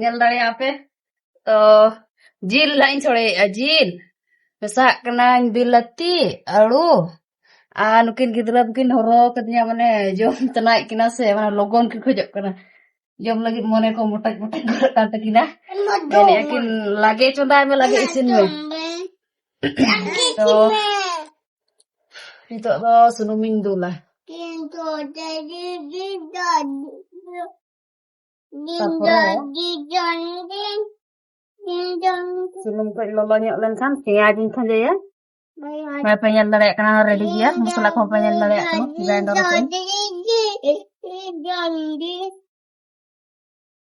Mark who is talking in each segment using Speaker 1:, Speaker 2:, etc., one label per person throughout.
Speaker 1: ᱧᱮᱞ ᱫᱟᱲᱮᱭᱟᱜ ᱟᱯᱮ ᱛᱚ ᱡᱤᱞ ᱦᱟᱸᱜ ᱤᱧ ᱪᱷᱚᱲᱮᱭᱮᱫᱼᱟ ᱡᱤᱞ ᱢᱮᱥᱟᱜ ᱠᱟᱹᱱᱟᱹᱧ ᱵᱤᱞᱟᱹᱛᱤ ᱟᱹᱲᱩ ᱟᱨ ᱱᱩᱠᱤᱱ ᱜᱤᱫᱽᱨᱟᱹ ᱠᱤᱱ ᱦᱚᱨᱚ ᱠᱟᱫᱤᱧᱟ ᱢᱟᱱᱮ ᱡᱚᱢ ᱛᱟᱱᱟᱭᱮᱫ ᱠᱤᱱᱟ ᱥᱮ ᱢᱟᱱᱮ ᱞᱚᱜᱚᱱ ᱠᱤᱱ ᱠᱷᱚᱡᱚᱜ ᱠᱟᱱᱟ ᱡᱚᱢ ᱞᱟᱹᱜᱤᱫ ᱢᱚᱱᱮ ᱠᱚ ᱢᱚᱴᱟᱡ ᱢᱚᱴᱟᱡ ᱜᱚᱫ ᱠᱟᱱ ᱛᱟᱹᱠᱤᱱᱟ ᱢᱮᱱᱮᱫᱼᱟ ᱠᱤᱱ ᱞᱟᱜᱮ ᱪᱚᱸᱫᱟᱭ ᱢᱮ ᱞᱟᱜᱮ ᱤᱥᱤᱱ ᱢᱮ ᱛᱚ ᱱᱤᱛᱚᱜ ᱫᱚ ᱥᱩᱱᱩᱢᱤᱧ ᱫᱩᱞᱟ ᱥᱩᱱᱩᱢ ᱠᱚ ᱞᱚᱞᱚ ᱧᱚᱜ ᱞᱮᱱᱠᱷᱟᱱ ᱯᱮᱸᱭᱟᱡᱽ ᱤᱧ ᱠᱷᱟᱸᱡᱚᱭᱟ ᱵᱟᱭ ᱯᱮ ᱧᱮᱞ ᱫᱟᱲᱮᱭᱟᱜ ᱠᱟᱱᱟ ᱨᱮᱰᱤ ᱜᱮᱭᱟ ᱢᱚᱥᱞᱟ ᱠᱚᱦᱚᱸ ᱯᱮ ᱧᱮᱞ ᱫᱟᱲᱮᱭᱟᱜ ᱠᱟᱱᱟ ᱜᱨᱟᱭᱱᱰᱟᱨ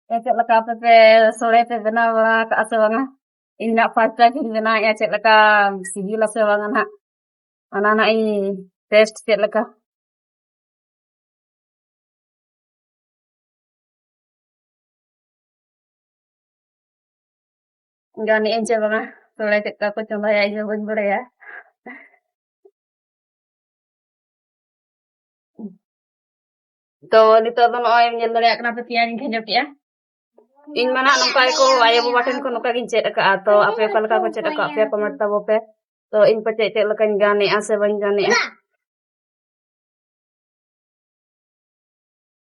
Speaker 1: ᱛᱮ ᱪᱮᱫ ᱞᱮᱠᱟ ᱟᱯᱮ ᱯᱮ ᱥᱚᱲᱮ ᱯᱮ ᱵᱮᱱᱟᱣ ᱵᱟᱲᱟ ᱠᱟᱜᱼᱟ ᱥᱮ ᱵᱟᱝᱟ ᱤᱧ ᱱᱟᱜ ᱯᱷᱟᱥᱴ ᱴᱟᱭᱤᱢ ᱤᱧ ᱵᱮᱱᱟᱣᱮᱫᱼᱟ ᱪᱮᱫ ᱞᱮᱠᱟ ᱥᱤᱵᱤᱞᱟ ᱥᱮ ᱵᱟᱝᱟ ᱱᱟᱜ ᱚᱱᱟ ᱱᱟᱜ ᱤᱧ ᱴᱮᱥᱴ ᱪᱮᱫ ᱞᱮᱠᱟ ᱜᱟᱱᱮᱜᱼᱟᱹᱧ ᱪᱮ ᱵᱟᱝᱟ ᱥᱚᱲᱮ ᱪᱮᱫ ᱞᱮᱠᱟ ᱠᱚ ᱪᱚᱸᱫᱟᱭᱟ ᱤᱧ ᱦᱚᱸ ᱵᱟᱹᱧ ᱵᱟᱲᱟᱭᱟ ᱛᱚ ᱱᱤᱛᱚᱜ ᱫᱚ ᱱᱚᱜᱼᱚᱭ ᱧᱮᱞ ᱫᱟᱲᱮᱭᱟᱜ ᱠᱟᱱᱟ ᱯᱮ ᱯᱮᱸᱭᱟᱡᱽ ᱤᱧ ᱠᱷᱟᱸᱡᱚ ᱠᱮᱜᱼᱟ ᱤᱧ ᱢᱟ ᱱᱟᱜ ᱱᱚᱝᱠᱟ ᱜᱮᱠᱚ ᱟᱭᱳ ᱵᱟᱵᱟ ᱴᱷᱮᱱ ᱠᱷᱚᱱ ᱱᱚᱝᱠᱟ ᱜᱤᱧ ᱪᱮᱫ ᱟᱠᱟᱫᱼᱟ ᱛᱚ ᱟᱯᱮ ᱚᱠᱟ ᱞᱮᱠᱟ ᱠᱚ ᱪᱮᱫ ᱟᱠᱟᱫ ᱯᱮᱭᱟ ᱠᱚᱢᱮᱱᱴ ᱛᱟᱵᱚ ᱯᱮ ᱛᱚ ᱤᱧ ᱯᱟᱪᱮ ᱪᱮᱫ ᱞᱮᱠᱟᱧ ᱜᱟᱱᱮᱜᱼᱟ ᱥᱮ ᱵᱟᱹᱧ ᱜᱟᱱᱮᱜᱼᱟ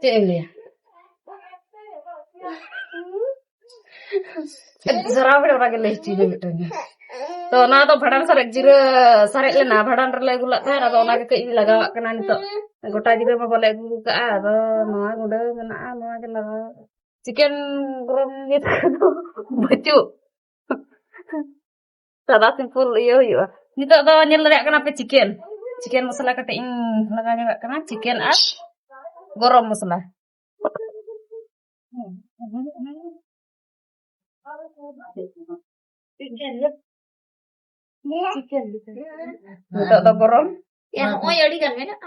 Speaker 1: ᱪᱮᱫ ᱮᱢ ᱞᱟᱹᱭᱟ ᱡᱚᱨᱟᱣ ᱵᱮᱲᱟ ᱚᱱᱟᱜᱮ ᱞᱟᱹᱭ ᱦᱚᱪᱚᱭᱮ ᱢᱤᱫᱴᱟᱝ ᱛᱚ ᱚᱱᱟ ᱫᱚ ᱵᱷᱟᱸᱰᱟᱱ ᱥᱟᱨᱮᱡ ᱡᱤᱨᱟᱹ ᱥᱟᱨᱮᱡ ᱞᱮᱱᱟ ᱵᱷᱟᱸᱰᱟᱱ ᱨᱮᱞᱮ ᱟᱹᱜᱩ ᱞᱮᱫ ᱛᱟᱦᱮᱸᱫ ᱟᱫᱚ ᱚᱱᱟᱜᱮ ᱠᱟᱹᱡ ᱤᱧ ᱞᱟᱜᱟᱣᱟᱜ ᱠᱟᱱᱟ ᱱᱤᱛᱚᱜ ᱜᱚᱴᱟ ᱡᱤᱨᱟᱹ ᱢᱟ ᱵᱟᱞᱮ ᱟᱹᱜᱩ ᱠᱟᱜᱼᱟ ᱟᱫᱚ ᱱᱚᱣᱟ ᱜᱩᱸᱰᱟᱹ ᱢᱮᱱᱟᱜᱼᱟ ᱱᱚᱣᱟ ᱜᱮ ᱞᱟᱜᱟᱣ ᱪᱤᱠᱮᱱ ᱜᱚᱨᱚᱢ ᱱᱤᱛ ᱫᱚ ᱵᱟᱹᱪᱩᱜ ᱥᱟᱫᱟ ᱥᱤᱢᱯᱩᱞ ᱤᱭᱟᱹ ᱦᱩᱭᱩᱜᱼᱟ ᱱᱤᱛᱚᱜ ᱫᱚ ᱧᱮᱞ ᱫᱟᱲᱮᱭᱟᱜ ᱠᱟᱱᱟ ᱯᱮ ᱪᱤᱠᱮᱱ ᱪᱤᱠᱮᱱ ᱢᱚᱥᱞᱟ ᱠᱟᱹᱴᱤᱡ ᱤᱧ ᱞᱟᱜᱟᱣ ᱧᱚᱜᱟᱜ ᱠᱟᱱᱟ ᱪᱤᱠᱮᱱ ᱟᱨ ᱜᱚᱨᱚᱢ ᱢᱚᱥᱞᱟ ᱱᱤᱛᱚᱜ ᱫᱚ ᱜᱚᱨᱚᱢ ᱱᱚᱜᱼᱚᱭ ᱟᱹᱰᱤ ᱜᱟᱱ ᱢᱮᱱᱟᱜᱼᱟ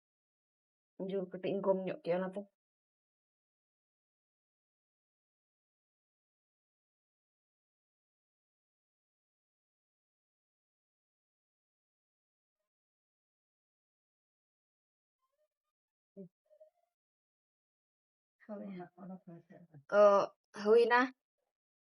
Speaker 1: ᱡᱳᱨ ᱠᱟᱹᱴᱤᱡ ᱤᱧ ᱠᱚᱢ ᱧᱚᱜ ᱠᱮᱜᱼᱟ ᱚᱱᱟᱛᱮ ᱛᱚ ᱦᱩᱭᱱᱟ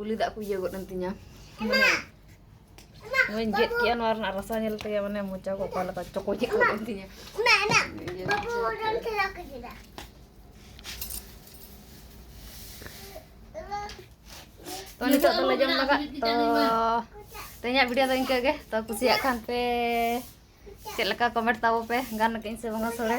Speaker 1: ᱩᱞᱤ ᱫᱟᱜ ᱠᱚ ᱤᱭᱟᱹ ᱜᱚᱫ ᱮᱱ ᱛᱤᱧᱟ ᱢᱟᱱᱮ ᱱᱚᱣᱟᱧ ᱜᱮᱫ ᱠᱮᱜᱼᱟ ᱱᱚᱣᱟ ᱨᱮᱱᱟᱜ ᱨᱟᱥᱟ ᱧᱮᱞ ᱛᱮᱜᱮ ᱢᱟᱱᱮ ᱢᱚᱪᱟ ᱠᱚ ᱚᱠᱟ ᱞᱮᱠᱟ ᱪᱚᱠᱚ ᱪᱮᱫ ᱜᱚᱫ ᱮᱱ ᱛᱤᱧᱟ ᱛᱚ ᱱᱤᱛᱚᱜ ᱫᱚᱞᱮ ᱡᱚᱢ ᱞᱟᱜᱟᱜ ᱛᱚ ᱛᱮᱦᱮᱧᱟᱜ ᱵᱷᱤᱰᱤᱭᱳ ᱫᱚ ᱤᱱᱠᱟᱹ ᱜᱮ ᱛᱚ ᱠᱩᱥᱤᱭᱟᱜ ᱠᱷᱟᱱ ᱯᱮ ᱪᱮᱫ ᱞᱮᱠᱟ ᱠᱚᱢᱮᱱᱴ ᱛᱟᱵᱚ ᱯᱮ ᱜᱟᱱ ᱠᱟᱹᱧ ᱥᱮ ᱵᱟᱝᱟ ᱥᱚᱲᱮ